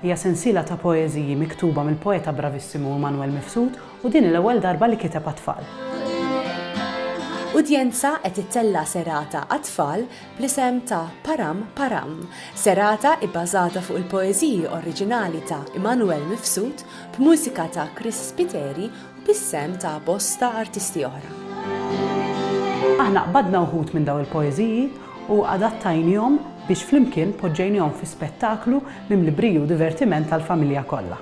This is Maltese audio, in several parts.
Hija sensiela ta' poeżiji miktuba mill-poeta bravissimu Immanuel Mifsud u din hi l-ewwel darba li kiteb għat-tfal. Udjenza qed ittella' serata għat-tfal bl-isem ta' Param Param, serata ibbażata fuq il-poeżiji oriġinali ta' Immanuel Mifsud b'mużika ta' Chris Spiteri bis-sehem ta' bosta artisti oħra. Aħna qbadna wħud minn dawn il-poeżiji u adattajnihom biex flimkien poġġejnihom fi spettaklu mimli briju u divertiment għall-familja kollha.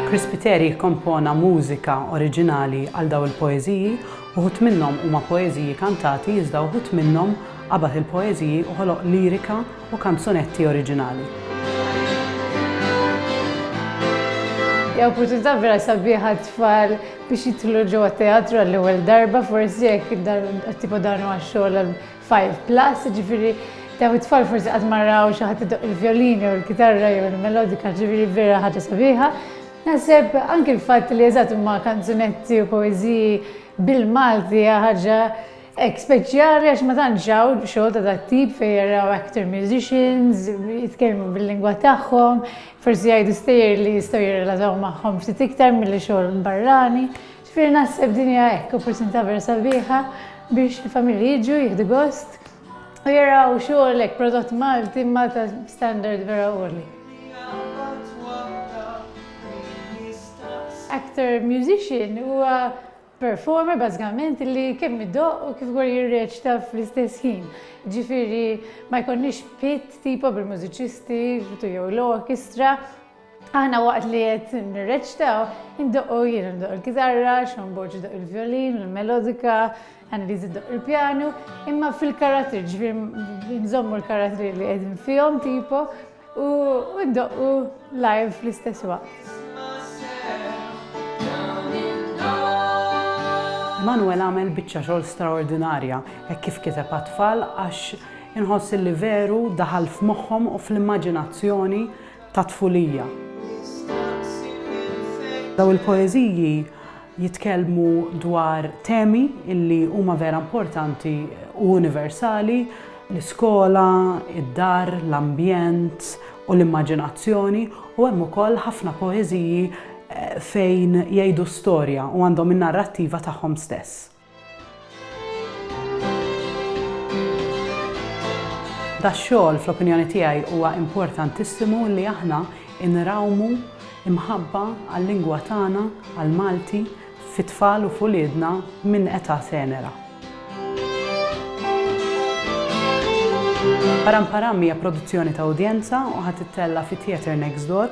Chris Spiteri kkompona mużika oriġinali għal dawn il-poeżiji, uħud minnhom huma poeżiji kantati iżda uħud minnhom qabad il-poeżiji u ħoloq lirika u kanzunetti oriġinali. Hija opportunità vera sabiħa għat-tfal biex jidħlu ġewwa teatru għall-ewwel darba, forsi jekk tipo dan huwa xogħol għal 5 plus, ġifieri dawn it-tfal forsi qatt ma raw xi ħadd idoq il-vjolin jew il-kitarra jew il-melodika, ġifieri vera ħaġa sabiħa. Naħseb anke l-fatt li eżatt huma kanzunetti u poeżiji bil-Malti hija ħaġa Hekk, speċjali għax ma tantx hawn xogħol ta' dat-tip fejn jaraw actor musicians jitkellmu bil-lingwa tagħhom, forsi jgħidu stejjer li jistgħu jirrelataw magħhom ftit iktar milli xogħol barrani. Ġifieri naħseb din hija hekk opportunità vera sabiħa biex il-familji jiġu jieħdu gost u jaraw xogħol hekk prodott Malti imma ta' standard vera għoli. Actor musician huwa performer bażikament li kemm idoqq u kif ukoll jirreċta fl-istess ħin. Ġifieri ma jkollniex pit tipo bil-mużiċisti jew l-orkestra. Aħna waqt li qed nirreċtaw, indoqqu jien ndoq il-kitarra, Sean Borg idoq il-violin, il-melodika, Annelies idoq il-pjanu, imma fil-karattri, ġifieri nżommu l-karattri li qegħdin fihom tipo u ddoqqu live fl-istess waqt. Manuel għamel biċċa xogħol straordinarja hekk kif kiteb għat-tfal għax inħoss illi veru daħal f'moħħhom u fl-immaġinazzjoni tat-tfulija. Dawn il-poeżiji jitkellmu dwar temi li huma vera importanti u universali, l-iskola, id-dar, l-ambjent u l-immaġinazzjoni u hemm ukoll ħafna poeżiji fejn jgħidu storja u għandhom in-narrattiva tagħhom stess. Dax-xogħol, fl-opinjoni tiegħi, huwa importantissimu li aħna nrawmu mħabba għal-lingwa tagħna, għall-Malti, fi tfal u f'uliedna minn età tenera. Param Param hija produzzjoni ta' udjenza u ħa tittella' fi Theatre Next Door